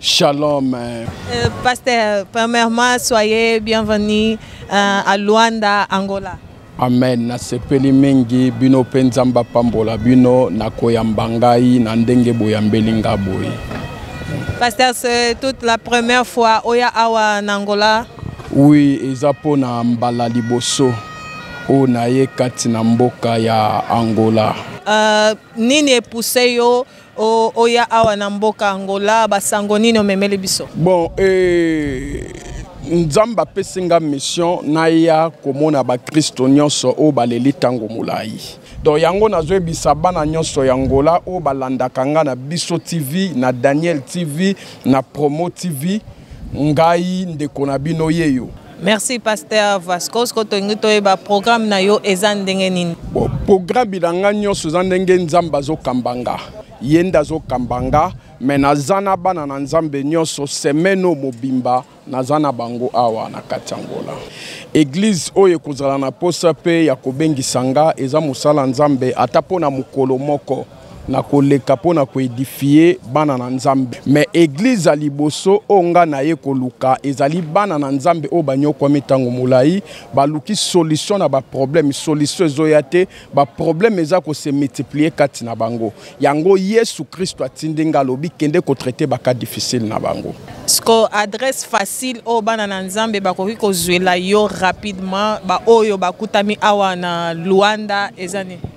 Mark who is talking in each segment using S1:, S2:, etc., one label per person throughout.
S1: Shalom.
S2: Euh, pasteur,
S1: premièrement, soyez bienvenue euh, à Luanda, Angola. amen
S2: nasepeli mingi bino mpe nzambe apambola bino na koyamba ngai na ndenge boyambeli nga boye paster
S1: c'est toute la première fois oya awa na angola oui eza
S2: mpo na mbala liboso oyo naye kati na mboka ya angola uh,
S1: nini epuse yo O, oya awa na mboka Angola, basango nini omemeli biso? Bon, eh,
S2: Nzambe apesi nga mission naya komona bakristo nyonso oyo baleli ntango molai donc yango nazoyebisa bana nyonso ya ngola oyo balandaka nga na biso tv na daniel tv na promo tv ngai ndeko na bino yeyo Merci pasteur
S1: Vasco siko tolingi toyeba programme na yo eza ndenge nini? Bon, programme
S2: na nga nyonso eza ndenge Nzambe azokamba nga ye nde azokamba nga me naza na bana na Nzambe nyonso semaine oyo mobimba naza na bango awa na kati ya Angola. Eglize oyo ekozala na posa mpe ya kobengisa nga eza mosala Nzambe ata mpo na mokolo moko. na koleka mpo na koedifie bana na nzambe me eglize ya liboso oyo ngai na ye koluka ezali bana na nzambe oyo banyokwami ntango molai baluki solution na baproblème solution ezoya te baproblème eza kose multiplie kati na bango yango yesu kristo atindi ngai alobi kende kotraite baka difficile na bango siko adresse
S1: facile oyo bana na nzambe bakoki kozwela yo rapidement baoyo bakutami awa na luanda eza nini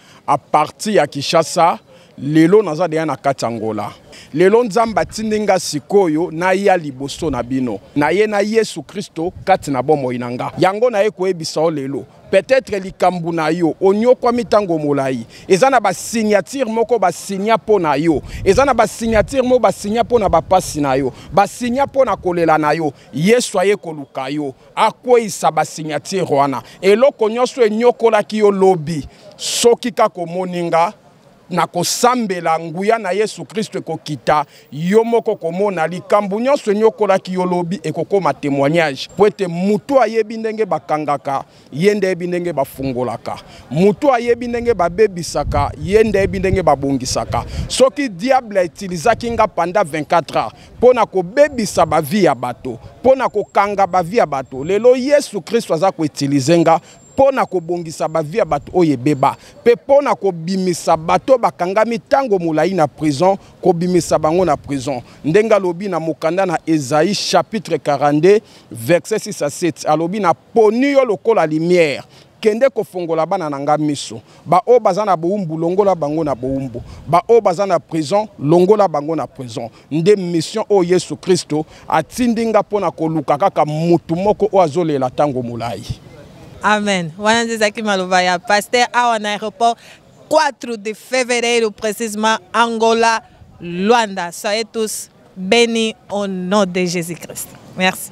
S2: A partir ya Kinshasa lelo naza deya na kati ya ngola lelo nzambe atindi nga sikoyo naya liboso na bino naye na yesu kristo kati na bomoi na nga yango naye koyebisa yo lelo peut-être likambo na yo onyokwami ntango molai eza na basignature moko basigna mpo na yo eza na basignature moko basigna mpo na bapasi na yo basigna mpo na kolela na yo yesu aye koluka yo akweisa ba signature wana eloko nyonso enyokolaki yo lobi soki kaka omoni nga na kosambela nguya na yesu kristo ekokita yo moko komona likambo nyonso enyokolaki yo lobi ekokoma témoignage mpo ete motu ayebi ndenge bakangaka ye nde ayebi ndenge bafungolaka motu ayebi ndenge babebisaka ye nde ayebi ndenge babongisaka soki diable etilisaki nga panda 24 heures mpo na kobebisa bavi ya bato mpo na kokanga bavi ya bato lelo yesu kristo aza koutilize nga mpo na kobongisa bavi ya bato oyo ebeba mpe mpo na kobimisa bato bakangami ntango molai na prison kobimisa bango na prison ndenge alobi na mokanda na ezai chapitre 42 verset 6 a 7 alobi na poni yo lokola limiere kende kofongola bana na nga miso baoyo baza na bowumbu longola bango na bowumbu baoyo baza na prison longola bango na prison nde mission oyo yesu kristo atindi nga mpo na koluka kaka motu moko oyo azolela ntango molai amen
S1: wana nde ezalaki maloba ya paster awa na aéroport 4 de fevereiro précisement angola luanda soyez tous bénis au nom de jésus christ merci